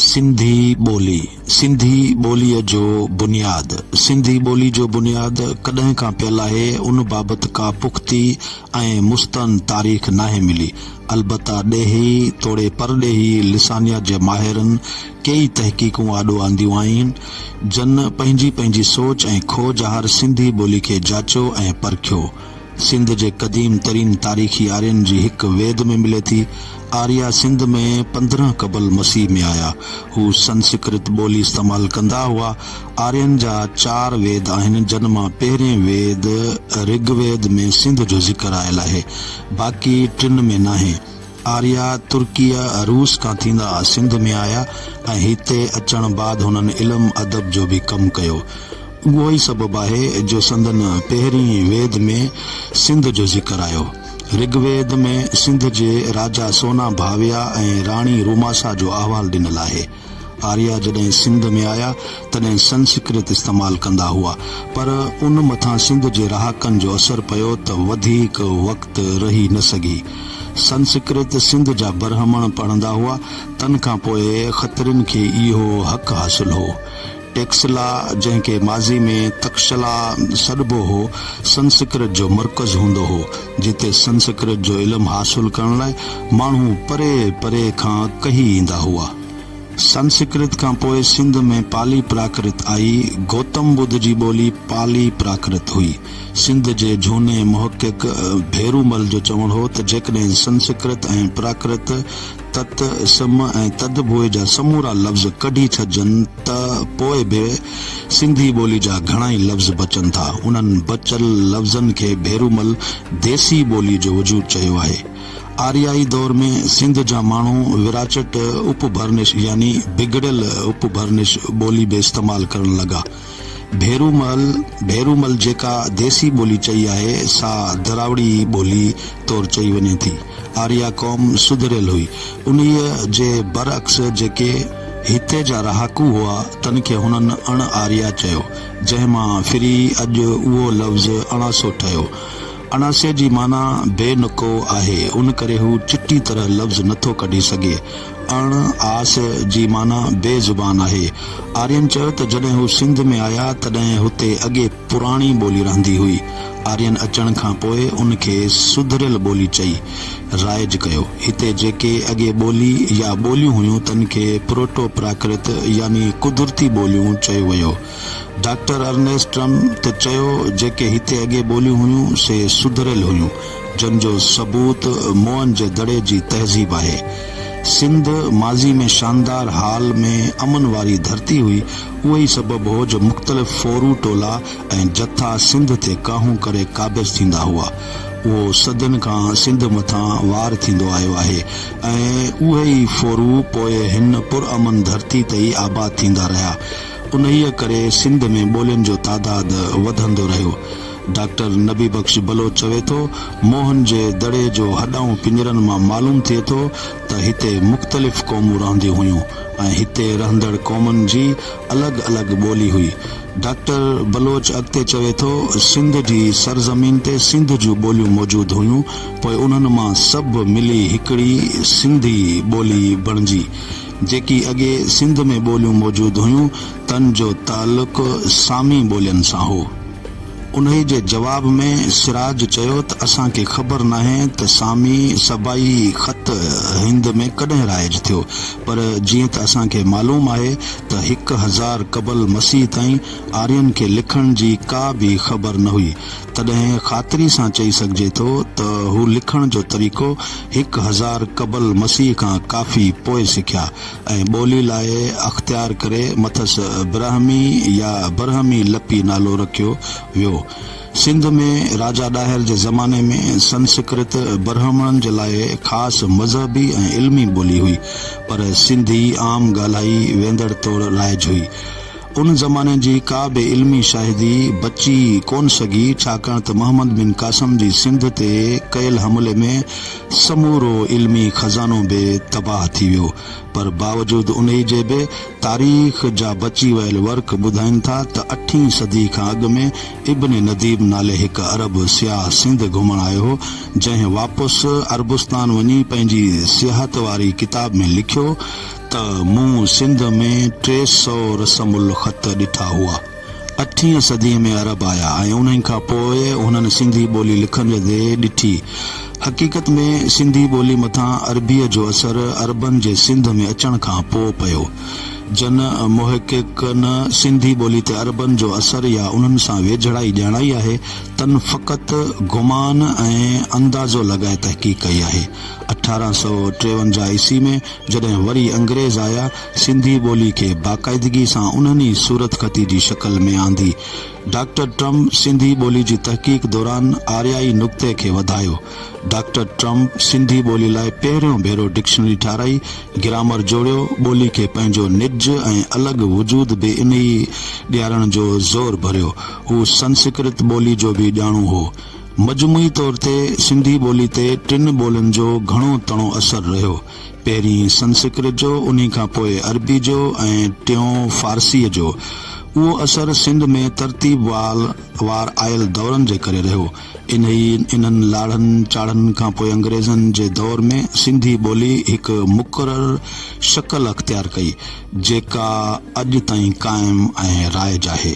سنڌي ٻولي، سنڌي ٻوليء جو بنياد، سنڌي ٻولي جو بنياد ڪڏهن کان پيل آهي، ان بابت ڪا پختي ۽ مستند تاريخ ناهي ملي. البته ڏيهي توڙي پرڏيهي لسانيات جي ماهرن ڪيئي تحقيقون آڏو آنديون آهن، جن پنهنجي پنهنجي سوچ ۽ کوج هر سنڌي ٻولي کي جاچيو ۽ پرکيو. سنڌ جي قديم ترين تاريخي آرين جي هڪ ويد ۾ ملي ٿي. آريا سنڌ ۾ پندرهن قبل مسيح ۾ آيا. هو سنسڪرت ٻولي استعمال ڪندا هئا. آرين جا چار ويد آهن جن مان پهرين ويد رگ ويد ۾ سنڌ جو ذڪر آيل آهي. باقي ٽن ۾ ناهي. آريا ترڪيه، روس کان ٿيندا سنڌ ۾ آيا ۽ هتي اچڻ بعد هنن علم ادب جو به ڪم ڪيو. اهو ئي سبب آهي جو سندن پهرين ويد ۾ سنڌ جو ذڪر آيو. رگ ويد ۾ سنڌ جي راجا سونا ڀاويا ۽ راڻي روماسا جو احوال ڏنل آهي. آريا جڏهن سنڌ ۾ آيا تڏهن سنسڪرت استعمال ڪندا هئا پر ان مٿان سنڌ جي رهاڪن جو اثر پيو ته وڌيڪ وقت رهي نه سگهي. سنسڪرت سنڌ جا برهمڻ پڙهندا هئا تن کان پوء کترين کي اهو حق حاصل هو. ٽيڪسلا، جنهن کي ماضي ۾ تڪشلا سڏبو هو، سنسڪرت جو مرڪز هوندو هو، جتي سنسڪرت جو علم حاصل ڪرڻ لاء ماڻهو پري پري کان ڪهي ايندا هئا. سنسڪرت کان پوء سنڌ ۾ پالي پراڪرت آئي. گوتم ٻڌ جي ٻولي پالي پراڪرت هئي. سنڌ جي جهوني محقق ڀيرومل جو چوڻ هو ته جيڪڏهن سنسڪرت ۽ پراڪرت تت، سم ۽ تد بوء جا سمورا لفظ ڪڍي ڇڏجن ته پوء به سنڌي ٻولي جا گهڻائي لفظ بچن ٿا. انهن بچيل لفظن کي ڀيرومل ديسي ٻولي جو وجود چيو آهي. آريائي دور ۾ سنڌ جا ماڻهو وراچٽ اپڀرنش يعني بگڙيل اپڀرنش ٻولي به استعمال ڪرڻ لڳا. ڀيرومل، ڀيرومل، جيڪا ديسي ٻولي چئي آهي، سا دراوڙي ٻولي طور چئي وڃي ٿي. آريا قوم سڌريل هئي. انهيء جي برعڪس جيڪي هتي جا رهاڪو هئا، تن کي هنن اڻ آريا چيو، جنهن مان ڦري اڄ اهو لفظ اڻاسو ٺهيو. اڻاسي جي معنيٰ بي نڪو آهي، ان ڪري هو چٽي طرح لفظ نٿو ڪڍي سگهي. اڻ آس جي معنيٰ بي زبان آهي. آرين چيو ته جڏهن هو سنڌ ۾ آيا تڏهن هتي اڳي پراڻي ٻولي رهندي هئي. آرين اچڻ کان پوء ان کي سڌريل ٻولي چئي رائج ڪيو. هتي جيڪي اڳي ٻولي يا ٻوليون هيون تن کي پروٽو پراڪرت يعني قدرتي ٻوليون چيو ويو. ڊاڪٽر ارنيسٽ ٽرم ته چيو، جيڪي هتي اڳي ٻوليون هيون، سي سڌريل هيون، جن جو ثبوت موئن جي دڙي جي تهذيب آهي. سنڌ ماضي ۾ شاندار حال ۾ امن واري ڌرتي هئي، اهو ئي سبب هو جو مختلف ڦورو ٽولا ۽ جٿا سنڌ تي ڪاهون ڪري قابض ٿيندا هئا. اهو صدين کان سنڌ مٿان وار ٿيندو آيو آهي ۽ اهي ئي ڦورو پوء هن پرامن ڌرتي تي ئي آباد ٿيندا رهيا. انهيء ڪري سنڌ ۾ ٻولين جو تعداد وڌندو رهيو. ڊاڪٽر نبي بخش بلوچ چوي ٿو، موهن جي دڙي جو هڏائون پڃرن مان معلوم ٿئي ٿو ته هتي مختلف قومون رهنديون هيون ۽ هتي رهندڙ قومن جي الڳ الڳ ٻولي هئي. ڊاڪٽر بلوچ اڳتي چوي ٿو، سنڌ جي سرزمين تي سنڌ جون ٻوليون موجود هيون، پوء انهن مان سڀ ملي هڪڙي سنڌي ٻولي بڻجي. جيڪي اڳي سنڌ ۾ ٻوليون موجود هيون، تن جو تعلق سامي ٻولين سان هو. انهي جي جواب ۾ سراج چيو ته اسان کي خبر ناهي ته سامي سبائي خط هند ۾ ڪڏهن رائج ٿيو، پر جيئن ته اسان کي معلوم آهي ته هڪ هزار قبل مسيح تائين آرين کي لکڻ جي ڪا به خبر نه هئي، تڏهن خاطري سان چئي سگهجي ٿو ته هو لکڻ جو طريقو هڪ هزار قبل مسيح کان ڪافي پوء سکيا ۽ ٻولي لاء اختيار ڪري مٿس برهمي يا برهمي لپي نالو رکيو ويو. سنڌ ۾ راجا ڏاهر جي زماني ۾ سنسڪرت برهمڻن جي لاء خاص مذهبي ۽ علمي ٻولي هئي پر سنڌي عام ڳالهائي ويندڙ طور رائج هئي. ان زماني جي ڪا به علمي شاهدي بچي ڪونه سگهي، ڇاڪاڻ ته محمد بن قاسم جي سنڌ تي ڪيل حملي ۾ سمورو علمي خزانو به تباهه ٿي ويو. پر باوجود انهي جي به تاريخ جا بچي ويل ورق ٻڌائين ٿا ته اٺين صدي کان اڳ ۾ ابن نديب نالي هڪ عرب سياح سنڌ گهمڻ آيو هو، جنهن واپس عربستان وڃي پنهنجي سياحت واري ڪتاب ۾ لکيو ته مون سنڌ ۾ ٽي سؤ رسم الخط ڏٺا هئا. اٺين صديء ۾ عرب آيا ۽ انهن کان پوء انهن سنڌي ٻولي لکندي ڏٺي. حقيقت ۾ سنڌي ٻولي مٿان عربيء جو اثر عربن جي سنڌ ۾ اچڻ کان پوء پيو. جن محققن سنڌي ٻولي تي عربن جو اثر يا انهن سان ويجهڙائي ڄاڻائي آهي، تن فقط گمان ۽ اندازو لڳائي تحقيق ڪئي آهي. اٺارهن سؤ ٽيونجاهه عيسوي ۾. جڏهن وري انگريز آيا، سنڌي ٻولي کي باقاعدگي سان انهن ئي صورتخطي جي شڪل ۾ آندي. ڊاڪٽر ٽرم سنڌي ٻولي جي تحقيق دوران آريائي نقطي کي وڌايو. ڊاڪٽر ٽرم سنڌي ٻولي لاء پهريون ڀيرو ڊڪشنري ٺاهرائي، گرامر جوڙيو، ٻولي کي پنهنجو نج ۽ الڳ وجود به انهيء ڏيارڻ جو زور ڀريو. هو سنسڪرت ٻولي جو به ڄاڻو هو. مجموعي طور تي سنڌي ٻولي تي ٽن ٻولين جو گهڻو تڻو اثر رهيو، پهرين سنسڪرت جو، انهي کان پوء عربي جو ۽ ٽيون فارسيء جو. اهو اثر سنڌ ۾ ترتيب وال وار آيل دورن جي ڪري رهيو. انهي انهن لاڙهن چاڙهن کان پوء انگريزن جي دور ۾ سنڌي ٻولي هڪ مقرر شڪل اختيار ڪئي، جيڪا اڄ تائين قائم ۽ رائج آهي.